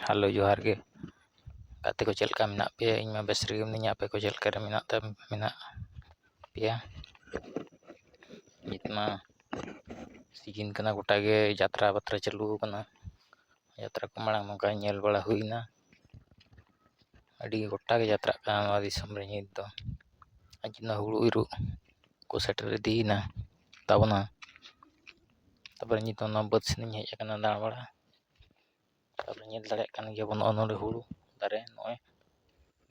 hello ᱡᱚᱦᱟᱨ ᱜᱮ ᱜᱟᱛᱮ ᱠᱚ ᱪᱮᱫ ᱞᱮᱠᱟ ᱢᱮᱱᱟᱜ ᱯᱮᱭᱟ ᱤᱧ ᱢᱟ ᱵᱮᱥ ᱨᱮᱜᱮ ᱢᱤᱱᱟᱹᱧᱟ ᱟᱯᱮ ᱠᱚ ᱪᱮᱫ ᱞᱮᱠᱟ ᱨᱮ ᱢᱮᱱᱟᱜ ᱛᱟᱢ ᱢᱮᱱᱟᱜ ᱯᱮᱭᱟ ᱱᱤᱛ ᱢᱟ ᱥᱤᱡᱤᱱ ᱠᱟᱱᱟ ᱜᱚᱴᱟ ᱜᱮ ᱡᱟᱛᱨᱟ ᱯᱟᱛᱨᱟ ᱪᱟᱹᱞᱩ ᱟᱠᱟᱱᱟ ᱡᱟᱛᱨᱟ ᱠᱚ ᱢᱟᱲᱟᱝ ᱱᱚᱝᱠᱟ ᱧᱮᱞ ᱵᱟᱲᱟ ᱦᱩᱭᱱᱟ ᱟᱹᱰᱤ ᱜᱚᱴᱟ ᱜᱮ ᱡᱟᱛᱨᱟᱜ ᱠᱟᱱᱟ ᱱᱚᱣᱟ ᱫᱤᱥᱚᱢ ᱨᱮ ᱱᱤᱛ ᱫᱚ ᱟᱨ ᱱᱤᱛ ᱢᱟ ᱦᱩᱲᱩ ᱤᱨᱚᱜ ᱠᱚ ᱥᱮᱴᱮᱨ ᱤᱫᱤᱭᱮᱱᱟ ᱛᱟᱵᱚᱱᱟ ᱛᱟᱨᱯᱚᱨᱮ ᱱᱤᱛ ᱚᱱᱟ ᱵᱟᱹᱫᱽ ᱥᱮᱫ ᱤᱧ ᱦᱮᱡ ᱠᱟᱱᱟ ᱫᱟᱬᱟ ᱵᱟᱲᱟ ᱟᱨ ᱧᱮᱞ ᱫᱟᱲᱮᱭᱟᱜ ᱠᱟᱱ ᱜᱮᱭᱟᱵᱚᱱ ᱱᱚᱜᱼᱚᱭ ᱱᱚᱰᱮ ᱦᱩᱲᱩ ᱫᱟᱨᱮ ᱱᱚᱜᱼᱚᱭ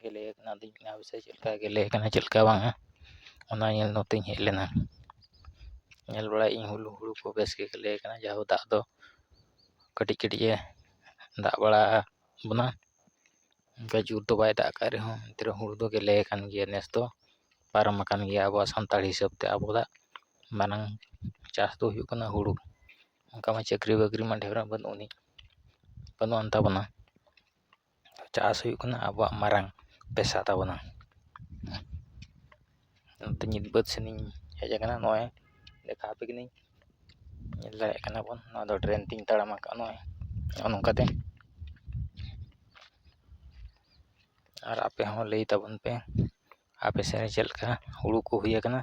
ᱜᱮᱞᱮ ᱠᱟᱱᱟ ᱟᱫᱚᱧ ᱢᱮᱱᱫᱟ ᱦᱟᱯᱮᱥᱮ ᱪᱮᱫ ᱞᱮᱠᱟ ᱜᱮᱞᱮ ᱠᱟᱱᱟ ᱪᱮᱫ ᱞᱮᱠᱟ ᱵᱟᱝᱟ ᱚᱱᱟ ᱧᱮᱞ ᱱᱚᱛᱮᱧ ᱦᱮᱡ ᱞᱮᱱᱟ ᱧᱮᱞ ᱵᱟᱲᱟᱭᱮᱫ ᱟᱹᱧ ᱦᱩᱲᱩ ᱠᱚ ᱵᱮᱥ ᱜᱮ ᱜᱮᱞᱮ ᱠᱟᱱᱟ ᱡᱟᱦᱳ ᱫᱟᱜ ᱫᱚ ᱠᱟᱹᱴᱤᱡ ᱠᱟᱹᱴᱤᱡ ᱮ ᱫᱟᱜ ᱵᱟᱲᱟ ᱟᱵᱚᱱᱟ ᱚᱱᱠᱟ ᱡᱳᱨ ᱫᱚ ᱵᱟᱭ ᱫᱟᱜ ᱟᱠᱟᱫ ᱨᱮᱦᱚᱸ ᱮᱱᱛᱮ ᱨᱮᱦᱚᱸ ᱦᱩᱲᱩ ᱫᱚ ᱜᱮᱞᱮ ᱟᱠᱟᱱ ᱜᱮᱭᱟ ᱱᱮᱥ ᱫᱚ ᱯᱟᱨᱚᱢ ᱟᱠᱟᱱ ᱜᱮᱭᱟ ᱟᱵᱚᱣᱟᱜ ᱥᱟᱱᱛᱟᱲ ᱦᱤᱥᱟᱹᱵ ᱛᱮ ᱟᱵᱚᱣᱟᱜ ᱢᱟᱨᱟᱝ ᱪᱟᱥ ᱫᱚ ᱦᱩᱭᱩᱜ ᱠᱟᱱᱟ ᱦᱩᱲᱩ ᱚᱱᱠᱟ ᱢᱟ ᱪᱟᱹᱠᱨᱤ ᱵᱟᱹᱠᱨᱤ ᱢᱟ ᱰᱷᱮᱨ ᱢᱟ ᱵᱟᱹᱱᱩᱜ ᱟᱹᱱᱤᱡ ᱵᱟᱹᱱᱩᱜ ᱟᱱ ᱛᱟᱵᱚᱱᱟ ᱪᱟᱥ ᱦᱩᱭᱩᱜ ᱠᱟᱱᱟ ᱟᱵᱚᱣᱟᱜ ᱢᱟᱨᱟᱝ ᱯᱮᱥᱟ ᱛᱟᱵᱚᱱᱟ ᱚᱱᱛᱮ ᱱᱤᱛ ᱵᱟᱹᱫᱽ ᱥᱮᱱᱤᱧ ᱦᱮᱡ ᱟᱠᱟᱱᱟ ᱱᱚᱜᱼᱚᱭ ᱫᱮᱠᱷᱟᱣ ᱟᱯᱮ ᱠᱟᱹᱱᱟᱹᱧ ᱧᱮᱞ ᱫᱟᱲᱮᱭᱟᱜ ᱠᱟᱱᱟ ᱵᱚᱱ ᱱᱚᱣᱟ ᱫᱚ ᱰᱨᱮᱱ ᱛᱤᱧ ᱛᱟᱲᱟᱢ ᱟᱠᱟᱫᱼᱟ ᱱᱚᱜᱼᱚᱭ ᱱᱚᱜᱼᱚ ᱱᱚᱝᱠᱟ ᱛᱮ ᱟᱨ ᱟᱯᱮ ᱦᱚᱸ ᱞᱟᱹᱭ ᱛᱟᱵᱚᱱ ᱯᱮ ᱟᱯᱮ ᱥᱮᱫ ᱨᱮ ᱪᱮᱫ ᱞᱮᱠᱟ ᱦᱩᱲᱩ ᱠᱚ ᱦᱩᱭ ᱟᱠᱟᱱᱟ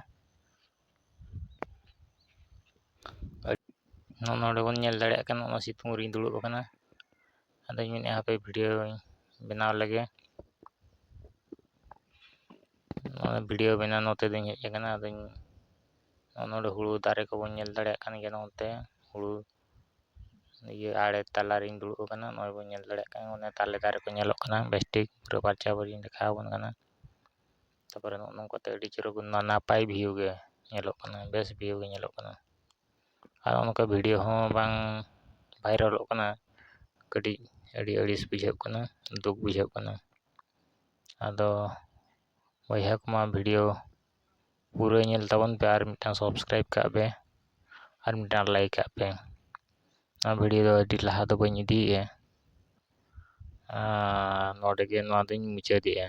ᱱᱚᱜᱼᱚ ᱱᱚᱰᱮ ᱵᱚᱱ ᱧᱮᱞ ᱫᱟᱲᱮᱭᱟᱜ ᱠᱟᱱᱟ ᱱᱚᱜᱼᱚᱭ ᱥᱤᱛᱩᱝ ᱨᱤᱧ ᱫᱩᱲᱩᱵ ᱟᱠᱟᱱᱟ ᱟᱫᱚᱧ ᱢᱮᱱᱮᱫᱼᱟ ᱦᱟᱯᱮ ᱵᱷᱤᱰᱭᱳᱧ ᱵᱮᱱᱟᱣ ᱞᱮᱜᱮ ᱱᱚᱣᱟ ᱵᱷᱤᱰᱭᱳ ᱵᱮᱱᱟᱣ ᱱᱚᱛᱮ ᱫᱚᱧ ᱦᱮᱡ ᱟᱠᱟᱱᱟ ᱟᱫᱚᱧ ᱱᱚᱰᱮ ᱦᱩᱲᱩ ᱫᱟᱨᱮ ᱠᱚᱵᱚᱱ ᱧᱮᱞ ᱫᱟᱲᱮᱭᱟᱜ ᱠᱟᱱ ᱜᱮᱭᱟ ᱱᱚᱛᱮ ᱦᱩᱲᱩ ᱤᱭᱟᱹ ᱟᱲᱮ ᱛᱟᱞᱟ ᱨᱤᱧ ᱫᱩᱲᱩᱵ ᱟᱠᱟᱱᱟ ᱱᱚᱜᱼᱚᱭ ᱵᱚᱱ ᱧᱮᱞ ᱫᱟᱲᱮᱭᱟᱜ ᱠᱟᱱᱟ ᱚᱱᱮ ᱛᱟᱞᱮ ᱫᱟᱨᱮ ᱠᱚ ᱧᱮᱞᱚᱜ ᱠᱟᱱᱟ ᱵᱮᱥ ᱴᱷᱤᱠ ᱯᱩᱨᱟᱹ ᱯᱷᱟᱨᱪᱟ ᱯᱷᱟᱹᱨᱪᱤᱧ ᱫᱮᱠᱷᱟᱣ ᱟᱵᱚᱱ ᱠᱟᱱᱟ ᱛᱟᱨᱯᱚᱨᱮ ᱱᱚᱜᱼᱚ ᱱᱚᱝᱠᱟᱛᱮ ᱟᱹᱰᱤ ᱪᱚᱨᱚᱠ ᱱᱟᱯᱟᱭ ᱵᱷᱤᱭᱩ ᱜᱮ ᱧᱮᱞᱚᱜ ᱠᱟᱱᱟ ᱵᱮᱥ ᱵᱷᱤᱭᱩ ᱜᱮ ᱧᱮᱞᱚᱜ ᱠᱟᱱᱟ ᱟᱨ ᱚᱱᱠᱟ ᱵᱷᱤᱰᱭᱳ ᱦᱚᱸ ᱵᱟᱝ ᱵᱷᱟᱭᱨᱟᱞᱚᱜ ᱠᱟᱱᱟ ᱠᱟᱹᱴᱤᱡ ᱟᱹᱰᱤ ᱟᱹᱲᱤᱥ ᱵᱩᱡᱷᱟᱹᱜ ᱠᱟᱱᱟ ᱫᱩᱠ ᱵᱩᱡᱷᱟᱹᱜ ᱠᱟᱱᱟ ᱟᱫᱚ ᱵᱚᱭᱦᱟ ᱠᱚᱢᱟ ᱵᱷᱤᱰᱭᱳ ᱯᱩᱨᱟᱹ ᱧᱮᱞ ᱛᱟᱵᱚᱱ ᱯᱮ ᱟᱨ ᱢᱤᱫᱴᱟᱱ ᱥᱟᱵᱥᱠᱨᱟᱭᱤᱵᱽ ᱠᱟᱜ ᱯᱮ ᱟᱨ ᱢᱤᱫᱴᱟᱱ ᱞᱟᱭᱤᱠ ᱠᱟᱜ ᱯᱮ ᱱᱚᱣᱟ ᱵᱷᱤᱰᱭᱳ ᱫᱚ ᱟᱹᱰᱤ ᱞᱟᱦᱟ ᱫᱚ ᱵᱟᱹᱧ ᱤᱫᱤᱭᱮᱜᱼᱟ ᱟᱨ ᱱᱚᱰᱮᱜᱮ ᱱᱚᱣᱟ ᱫᱚᱧ ᱢᱩᱪᱟᱹᱫᱮᱜᱼᱟ